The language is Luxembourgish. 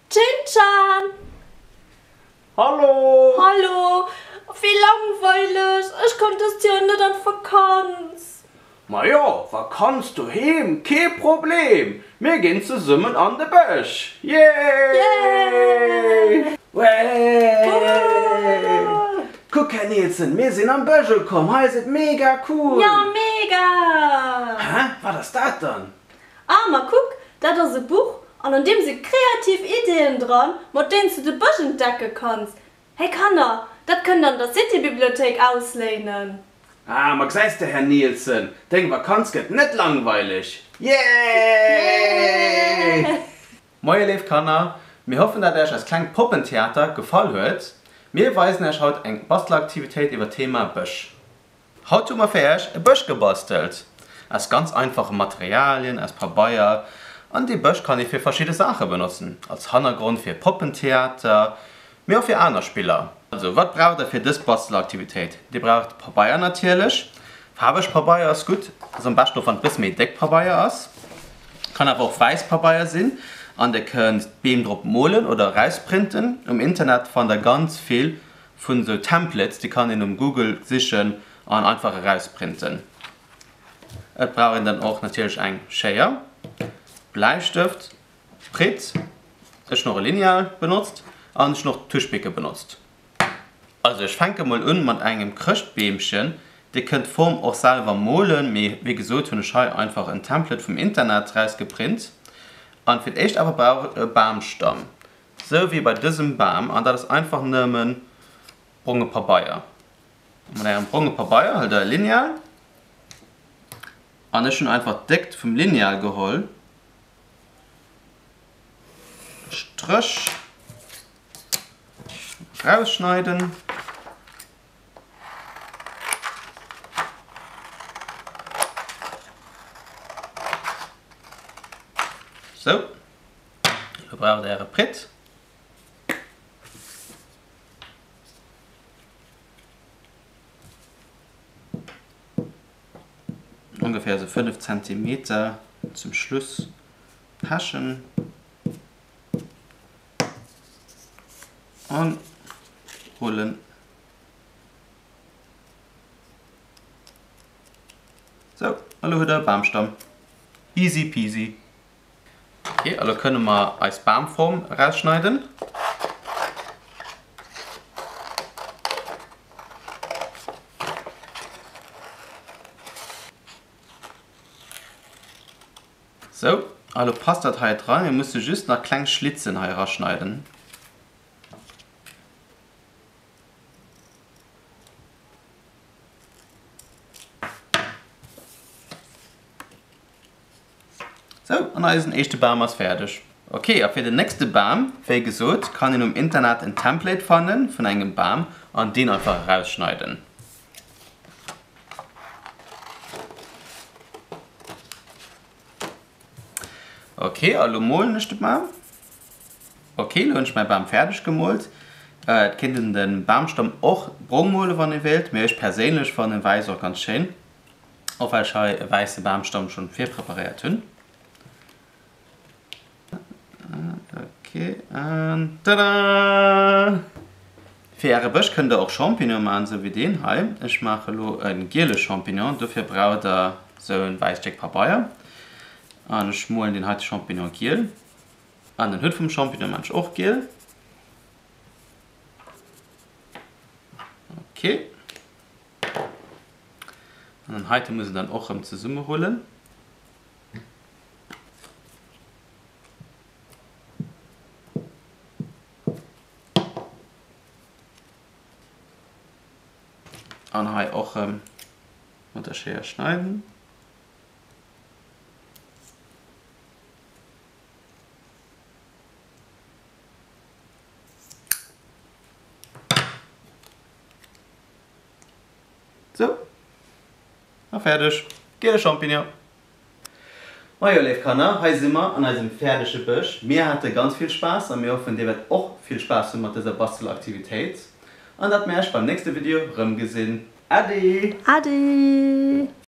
Chin-chan! Hallo! Hallo! Wéi langweileg! Ech koum dëst Joer net an d'Vakanz! Majo, Vakanz doheem, kee Problem! Mir ginn zesummen an de Bësch! Yay! Yay! Wee! Woouu! Kuck Här Nielsen, mir sinn am Bësch ukomm, hei ass et mega cool! Ja mega! Hä? Wat ass dat dann? Ah, ma kuck, dat ass e Buch an an deem si kreativ Ideeën dran, mat deenen s du de Bësch entdecke kanns. Hey Kanner, dat kënnt der an der City-Bibliothéik ausléinen. Ah, ma gesäis de Här Nielsen, deng Vakanz gëtt net langweileg! Yay! Moie léif Kanner, mir hoffen dat Äech eist klengt Poppentheater gefall huet. Mir weisen Äech haut eng Bastelaktivitéit iwwer d'Thema Bësch. Haut hu mer fir Äech e Bësch gebastelt aus ganz einfache Materialien, aus Pabeier an dee Bësch kann ee fir verschidde Saache benotzen, als Hannergrond fir Poppentheater, mee och fir aner Spiller. Also wat braucht der fir dës Bastelaktivitéit? Dir braucht Pabeier natierlech, faarweg Pabeier ass gutt, ass am beschten och wann et e bësse méi déck Pabeier ass, kann awer och wäiss Pabeier sinn, an dir kënnt d'Beem drop molen oder erausprinten. Um Internet fannt der ganz vill vun esou Templates, déi kann een um Google sichen an einfach erausprinten. Et brauch een dann och natierlech eng Schéier, Bläistëft, Fred, Ech hun och e Lineal benotzt an ech hun och Tuschbicke benotzt. Also ech fänke mol un mat engem Chrëschtbeemchen. Dir kënnt d'Form och selwer molen, mee wéi gesot hun ech hei einfach en Template vum Internet rausgeprint. An fir d'éischt awer brauch ech e Baamstamm, sou wéi bei dësem Baam, an dat ass einfach nëmmen bronge Pabeier. Mat engem bronge Pabeier huelt der e Lineal, an ech hun einfach d'Déckt vum Lineal geholl Stréch rausschneiden. Sou, elo braucht Är e Pritt. ongeféier esou 5 Zentimeter zum Schluss pechen an rullen. Sou, elo huet der e Bamstamm. Easy peasy. Okay, elo kënne mer eis Bamform erausschneiden. Sou, elo passt dat hei dran. Mir musse just nach kleng Schlitzen hei eraschneiden. Sou, an eisen éischte Bam ass fäerdeg. Ok, a fir den nächste Bam, wéi gesot, kann een um Internet en Template fanne vun engem Bam an deen einfach erausschneiden. Ok, a lo molen ech de Bam. Ok, lo hunn ech mäi Bam fäerdeg gemoolt. Et kéint een de Bamstamm och brong mole wann ee wéilt, mee ech perséinlech fannen wäiss och ganz schéin. Och well ech hei e wäisse Bamstamm schon virpreparéiert hunn. Ok, an tada! Fir äre Bësch kënnt der och Champignonen maachen, esou wéi deen hei. Ech maache lo e giele Champignon, dofir braucht der esou e wäisst Stéck Pabeier. An ech molen deen heite Champignon giel. An den Hutt vum Champignon maachen ech och giel. Ok. An den heiten muss en dann och rem zesumme rullen. An hei och rem mat der Schéier schneiden. Sou, a fäerdeg, giele Champignon. Majo léif Kanner, hei si mer an eisem fäerdege Bësch. Mir hate ganz vill Spaass a mir hoffen dir wäert och vill Spaass hu mat dëser Bastelaktivitéit an dat mir äech beim nächste Video rëm gesinn. Äddi! Äddi!